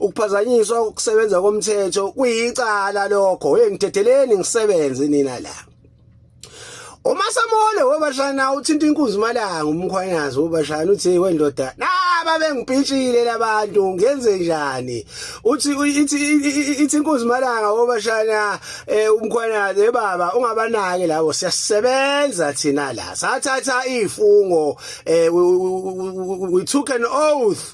ukuphazanyiswa ukusebenza komthetho kuyicala lokho hey ngithetheleni ngisebenze nina la Uma samole wobashana uthinta inkunzi malanga umkhwanyazi wobashana uthi wendoda naba bengipitshile labantu ngenze njani uthi ithi ithi inkunzi malanga wobashana eh, umkhwanyazi eh, baba ungabanaki labo siyasebenza thina la sathatha ifungo eh, we took an oath